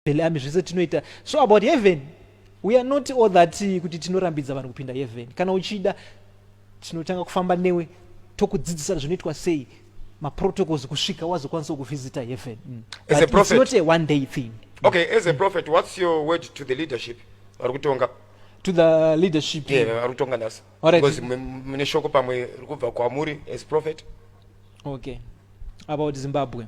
Bhele ami zvese tinoita. So about heaven, we are not all that kuti tinorambidza vanhu kupinda heaven. Kana uchida tinotanga kufamba newe tokudzidzisa zvinoitwa sei maprotocols kusvika wazokwanisa kuvhizita heaven. Mm. As a prophet, it's not a one day thing. Okay, as a prophet, what's your word to the leadership? Vari kutonga to the leadership yeah, vari kutonga nhasi because mune shoko pamwe rikubva kwamuri as prophet okay about zimbabwe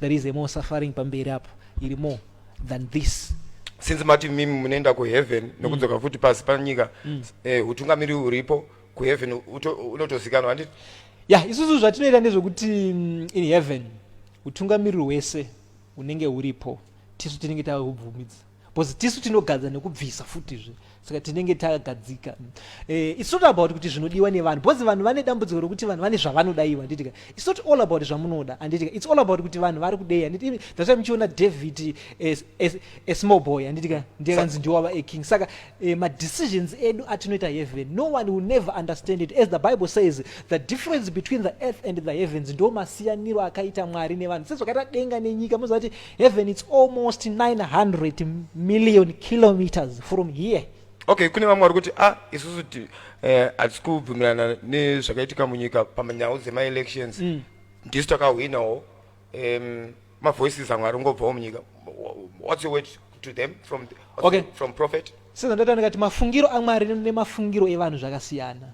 There is a more suffering pamberi apo iri more than this since mati mimi munoenda kuheaven mm. nokudzoka futi pasi panyika mm. eh, hutungamiri huripo kuheaven unotozikanwa handiti ya yeah, isusu zvatinoita ndezvekuti mm, in heaven utungamiriri hwese unenge huripo tisu tinenge tahubvumidza because tisu tinogadza nekubvisa futizve saka tinenge tagadzika eh, its not about kuti zvinodiwa nevanhu because vanhu vane dambudziko rokuti vanhu vane zvavanodaiwa nditika its not all about zvamunoda anditika its all about kuti vanhu vari kudei anditi that's why muchiona david asmall boy anditika ndiye kanzi ndiwava aking saka eh, madecisions edu atinoita heaven no one will never understand it as the bible says the difference between the earth and the heavens ndo masiyaniro akaita mwari nevanhu sezvakaita denga nenyika mozati heaven it's almost 900 million kilometers from here okay kune vamwe vari kuti ah isusu ti eh, hatisi kubvumirana nezvakaitika munyika pamanyau dzemaelections mm. ndisu takahwinawo um, mavoices amwe aringobvawo munyika what's your word to them from, okay. from prophet sezvandaita ndikati mafungiro amwari nemafungiro evanhu zvakasiyana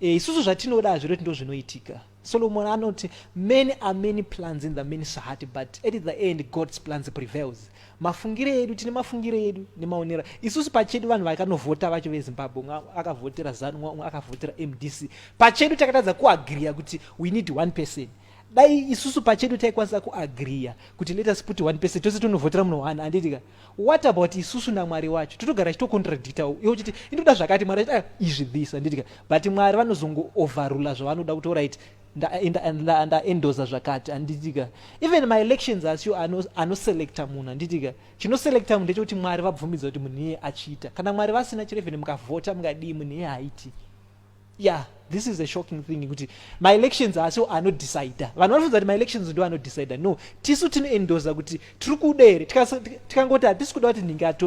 E, isusu zvatinoda hazviroti ndo zvinoitika. Solomon anoti many are many plans in the man's heart but at the end God's plans prevails. Mafungire edu tine mafungire edu nemaonera isusu pachedu vanhu vakanovhota vacho veZimbabwe umwe akavhotera ZANU umwe akavhotera MDC pachedu takatadza kuagriya kuti we need one person dai isusu pachedu taikwanisa kuagriya kuti let us put one person tose tonovhotera munhu one andiitika what about isusu namwari wacho totogara achitocontradicta iwe uchiti indoda zvakati mwari achiti ah, izvi this andidika but mwari vanozongooverula zvavanoda kuti orit ndaendoza zvakati handitika even maelections asio anoselecta munhu handitika chinoselecta munhu ndechekuti mwari vabvumidza kuti munhu iye achiita kana mwari vasina chero even mukavhota mungadii munhu iye haiti yeah this is a shocking thing kuti maelections haasi anodecida vanhu vanofunza kuti maelections ndo anodecida no tisu tinoendoza kuti tiri kuda here tikangoti hatisi kuda kuti nhingi atonge